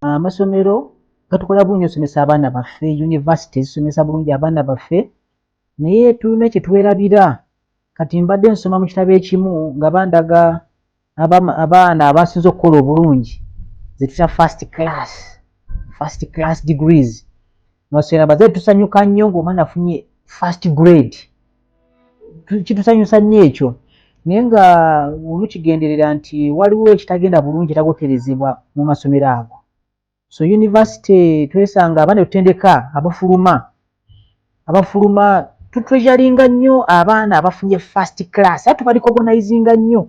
amasomero gatukola bulungi osomesa abaana baffe univesity zisomesa bulungi abaana baffe naye tulina kyetwerabira kati mbadde nsoma mu kitabo ekimu nga bandaga abaana abasinza okukola obulungi zetuta first class first class degrees nosera baze tusanyuka nnyo ng'omwana afunye first grade kitusanyusa nnyo ekyo naye nga olukigenderera nti waliwo ekitagenda bulungi etagoterezebwa mu masomero ago so univesity twesanga abaana etutendeka abafuluma abafuluma tutreasuringa nnyo abaana abafunye first class a tubalikogonizinga nnyo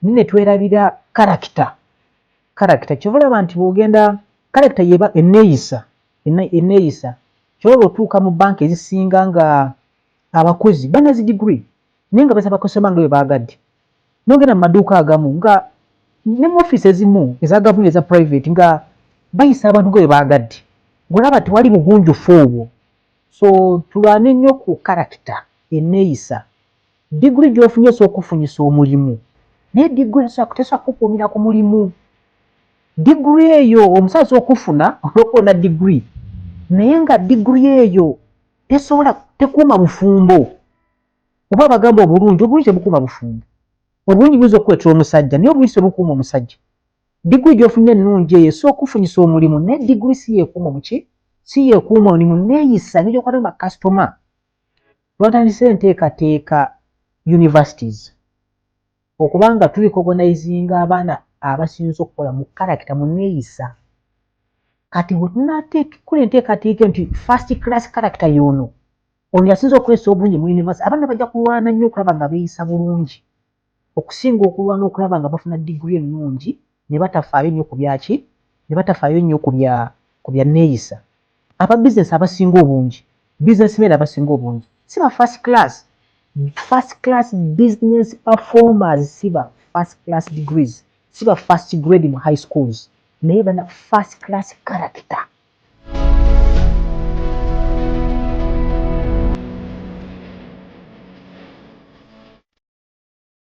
ne twerabira karakita karakita kyova olaba nti bwogenda karakita yeba eneeyisa eneeyisa kyolaba otuuka mu banka ezisinga nga abakozi banazi digiri naye nga basaba kusoma nga bwe baagadde nogenda mu maduuka agamu nga ne mu ofiisi ezimu eza gavumenti eza private nga bayisa abantu nga bwe baagadde ng'olaba tewali bugunjufu obwo so tulwane nnyo ku karakita eneeyisa Degree gyofunye esobola okukufunyisa omulimu naye degree tesobola tesobola kukukuumira ku mulimu. Degree eyo omusawo asobola okufuna olwokuba olina degree naye nga degree eyo tesobola tekuuma bufumbo oba abagamba obulungi obulungi tebukuuma bufumbo obulungi buyinza okukuleetera omusajja naye obulungi tebukuuma omusajja. Degree gyofunye ennungi eyo esobola okukufunyisa omulimu naye degree si yekuuma mu ki si yekuuma mulimu neeyisa engeri gyokwatamu bakasitoma. Twatandise enteekateeka Universities okuba nga tu recognizinga abaana abasinze okukola mu character, mu neeyisa. Kati bwe tunateekkola enteekateeka eno nti first class character y'ono, ono yasinze okukozesa obulungi mu University, abaana bajja kulwana nnyo okulaba nga beeyisa bulungi. okusinga okulwana okulaba nga bafuna diguli ennungi ne batafaayo nnyo ku byaki ne batafaayo nnyo ku bya ku bya nneeyisa. Aba bizinensi abasinga obungi, businessmen abasinga obungi, si ba first class. First class business performers si ba first class degrees, si ba first grade mu high schools, naye bana first class character.